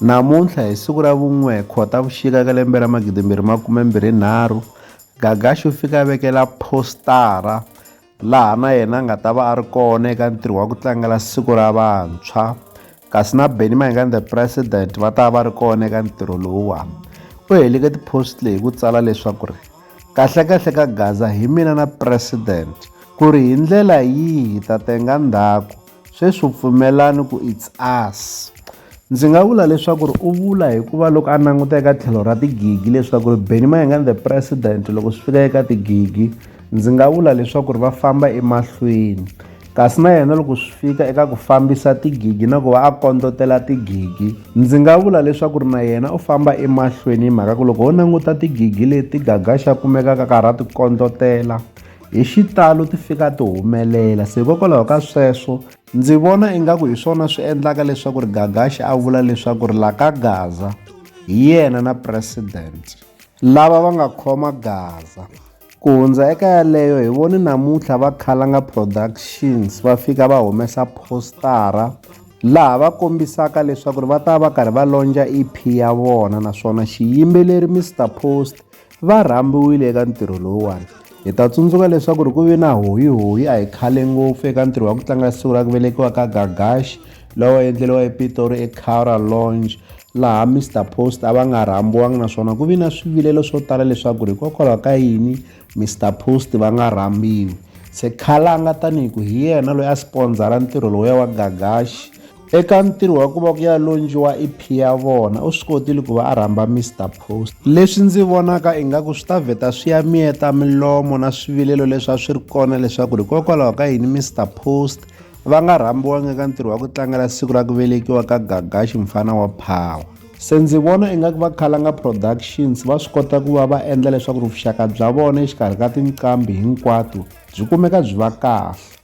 Namuntlha hi siku ra vun'we Khotavuxika ka lembe ra magidimbirhi makume mbirhi nharhu, Gagashi u fika a vekela phostara laha na yena a nga ta va a ri kona eka ntirho wa ku tlangela siku ra vantshwa kasi na Benny Mayengani the president va ta va ri kona eka ntirho lowuwani u heleke tipost leyi ku tsala leswaku ri kahlekahle ka gaza hi mina na president ku ri hi ndlela yihi ta tenga ndzhaku Sweswi u pfumelani ku it's us. Ndzi nga vula leswaku ri u vula hikuva loko a languta eka tlhelo ra tigigi leswaku ri Benny Mayengani the president loko swi fika eka tigigi ndzi nga vula leswaku ri va famba emahlweni kasi na yena loko swi fika eka ku fambisa tigigi na ku va a kondlotela tigigi ndzi nga vula leswaku ri na yena u famba emahlweni hi mhaka ku loko ho languta tigigi leti gaga xa kumekaka ka ha ra ti kondlotela hi xitalo ti fika ti humelela se hikokwalaho ka sweswo ndzi vona ingaku hi swona swi endlaka leswaku ri gagaxi a vula leswaku ri la ka gaza hi yena na president lava va nga khoma gaza ku hundza eka yaleyo hi voni namuntlha va khalanga productions va fika va humesa postara laha va kombisaka leswaku ri va ta va karhi va lonja ep ya vona naswona xiyimbeleri mr post va rhambiwile eka ntirho lowuwani hi ta tsundzuka leswaku ri ku ve na hoyihoyi a hi khale ngopfu eka ntirho wa ku tlanga siku ra ku velekiwa ka gagaxi lowa endleriwa epitori ecara longe laha mr post a va nga rhambiwanga naswona ku vi na swivilelo swo tala leswaku ri hikokwalaho ka yini mr post va nga rhambiwi se khalanga tanihi ku hi yena loyi a spondzara ntirho lowuya wa gagaxi Eka ntirho wa ku va ku ya lonjiwa EP ya vona u swi kotile ku va a rhamba Mr Post. Leswi ndzi vonaka ingaku swi ta vheta swi ya miyeta milomo na swivilelo leswi a swi ri kona leswaku hikokwalaho ka yini Mr Post va nga rhambiwangi eka ntirho wa ku tlangela siku ra ku velekiwa ka Gagashi mfana wa Power. Se ndzi vona ingaku va Khalanga Productions va swi kota ku va va endla leswaku vuxaka bya vona exikarhi ka tinqambi hinkwato byi kumeka byi va kahle.